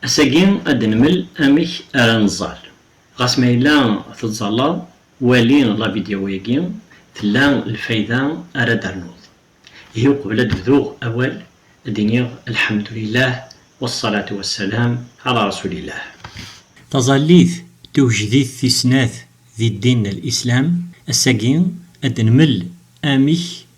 Ass-agi ad d-nmel amek ara neẓẓal. Ɣas ma yella tettẓallaḍ, wali lavidyaw-agi, tella lfayda ara d-ternuḍ. Ihi uqbel ad d-bduɣ awal, ad d-iniɣ Lḥemdulillah wassalatu wassalam ɛala rasulillah. Taẓallit tugejdit tis snat di ddin n Lislam. Ass-agi ad d-nmel amek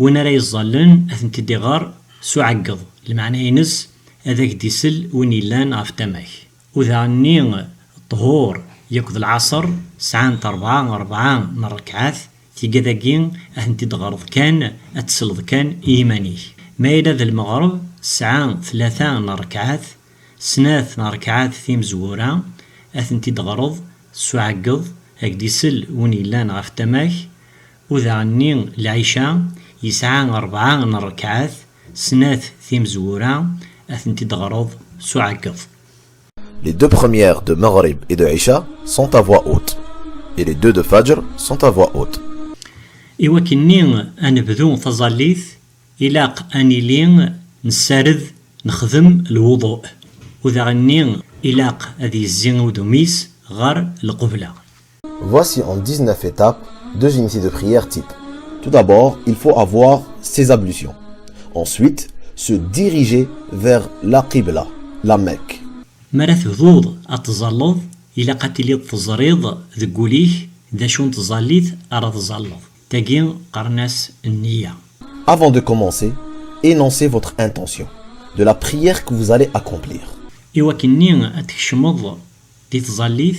Win ara yeẓẓallen ad tent-id-iɣer s uɛeggeḍ, lmeɛna-ines ad ak-d-isel win yellan ɣef tama-k. Udaɣ-nni, ṭṭhur, yakk d lɛaṣer, sɛant rebɛa, rebɛa, n rrekɛat, tigad-agi ad tent-id-teɣreḍ kan, ad d-tesleḍ kan i yiman-ik. Ma yella d lmeɣreb, tesɛa tlata n rrekɛat, snat n rrekɛat timezwura, ad tent-id-teɣreḍ s uɛeggeḍ, ad ak-d-isel win yellan ɣef tama-k, Udaɣ-nni lɛica yesɛa rebɛa n ṛekɛat, snat timezwura, ad tent-id-ɣreḍ s uɛeggeḍ. Les deux premières de Maghrib et de Isha sont à voix haute et les deux de Fajr sont à voix haute. Iwakken-nni ad nebdu taẓallit, ilaq ad nili nessared, nexdem lwuḍu. Udaɣ-nni ilaq ad yezzi udum-is ɣer lqubla. Voici en 19 étapes deux unités de prière type. Tout d'abord, il faut avoir ses ablutions. Ensuite, se diriger vers la Qibla, la Mecque. Mara tebduḍ ad tẓalleḍ, ilaq ad tiliḍ teẓriḍ deg wul-ik d acu n tẓallit ara tẓalleḍ. Tagi qqaren-as nniya. Avant de commencer, énoncez votre intention de la prière que vous allez accomplir. Iwakken-nni ad tkecmeḍ di tẓallit,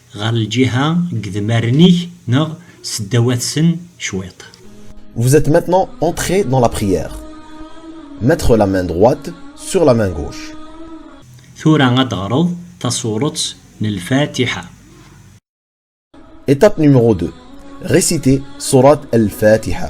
Ɣer lǧiha n yedmaren-ik neɣ seddaw-atsen cwiṭ. Vous êtes maintenant entré dans la prière. Mettre la main droite sur la main gauche. Tura ad d-teɣreḍ tasuret n Lfatiḥa. Étape numéro deux. Réciter Surat al-Fatiḥa.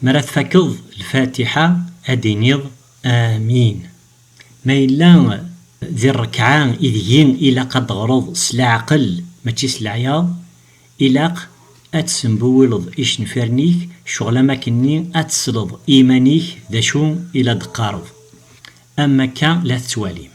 Mi ara tfakeḍ lfatiḥa ad d-tiniḍ Amin. Ma yella di rrekɛa ideg-i ilaq ad d-teɣreḍ s leɛqel mačči s leɛyaḍ, ilaq ad tessembiwileḍ icenfiren-ik ccɣel am wakken-nni ad tesleḍ i yiman-ik d acu i la d-teqqareḍ. Am wakka la tettwalim.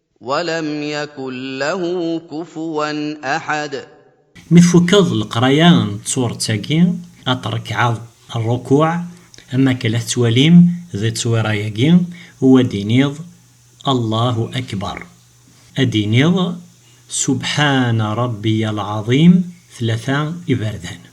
Mi tfukeḍ leqraya n tsuret-agi, ad trekɛeḍ rrukuɛ, am wakken la tettwalim di tteswiṛa-agi, u ad d-tiniḍ, Allahu Akbeṛ. Ad d-tiniḍ, Subḥana Ṛebbiya Lɛaẓim, tlata iberdan.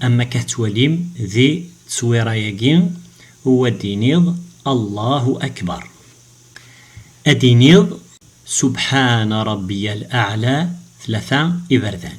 Am akka tettwalim di tteswira-agi, u ad d-tiniḍ, Allahu Akbar. Ad d-tiniḍ, Subḥana Rabbiyal Aɛla, tlata iberdan.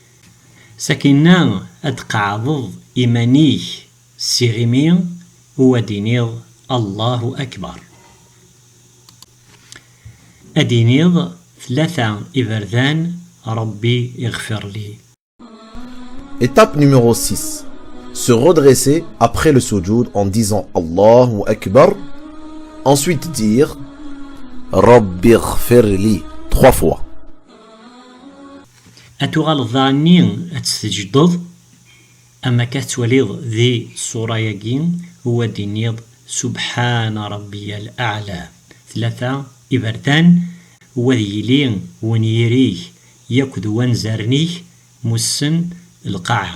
Sakina ad d-qeɛdeḍ iman-ik s tiɣimi u ad d-tiniḍ Allahu Akbar. Ad d-tiniḍ tlata iberdan, Rabbi iɣfirli. Étape numéro six, Se redresser après le soujoud en disant Allahu Akbar, ensuite dire Rabbi iɣfirli trois fois. Ad tuɣaleḍ daɣenni ad tt-tejdeḍ am akka tettwaliḍ di ṣṣura-agi u ad d-tiniḍ Subḥana Rabbiyal Aɛla tlata iberdan u ad yili wenyir-ik yakk d wanzaren-ik mussen lqaɛa.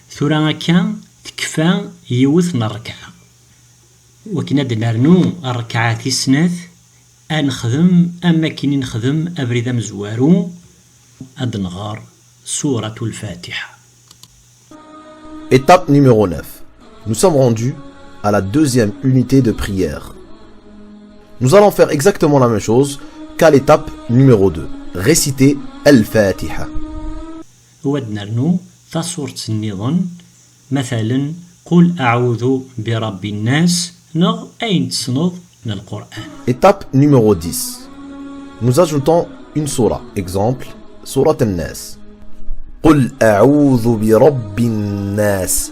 Tura akka tekfa yiwet n rrekɛa. Wakken ad d-nernu rrekɛa tis snat, ad nexdem am wakken i nexdem abrid amezwaru, ad d-nɣer Sûrat Al-Fatiḥa. Étape numéro neuf Nous sommes rendus à la deuxième unité de prière. Nous allons faire exactement la même chose qu'à l'étape numéro deux, réciter Al-Fatiha. U ad nernu taṣurt nniḍen, matalen, Qul aɛudu bi Rabbi nnas neɣ ayen tessneḍ n Lqur'an. Étape numéro dix, Nous ajoutons une sourah, exemple, Sourat An-Nas, Qul aɛudu bi Rabbi nnas.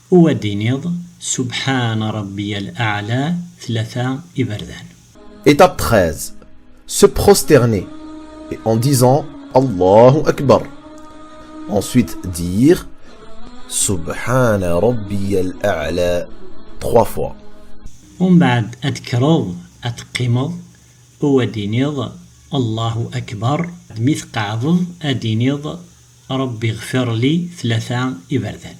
U ad d-tiniḍ, Subḥana Rabbiyal Aɛla tlata iberdan. Étape treize, Se prosterner et en disant Allahu Akbar, ensuite dire Subḥana Rabbiyal Aɛla trois fois. U mbeɛd ad d-tekkreḍ ad teqqimeḍ, u ad d-tiniḍ Allahu Akbar, mi tqeɛdeḍ ad d-tiniḍ Rabbi ɣfirli tlata iberdan.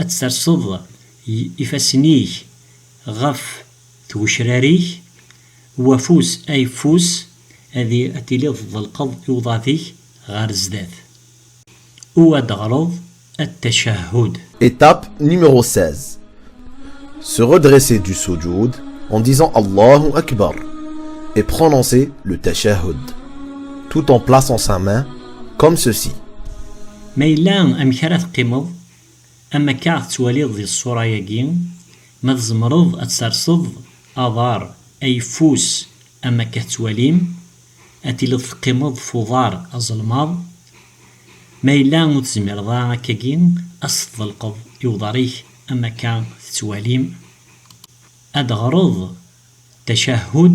Ad terseḍ ifassen-ik ɣef tgecrar-ik, u afus ayeffus ad tiliḍ tḍelqeḍ i uḍad-ik ɣer zdat, u ad d-teɣreḍ At-Tachahhud. Étape numéro 16 Se redresser du soujoud en disant Allahu Akbar et prononcer le Tachahhud, tout en plaçant sa main comme ceci. Ma yella amek ara teqqimeḍ, am akka tettwaliḍ di ṣṣura-agi, ma tzemreḍ ad terseḍ aḍar ayeffus am akka tettwalim, ad tiliḍ teqqimeḍ f uḍar azelmaḍ, ma yella ur tezmireḍ ara akkagi ad s-tḍelqeḍ i uḍar-ik am akka tettwalim, ad d-ɣreḍ tacahhud.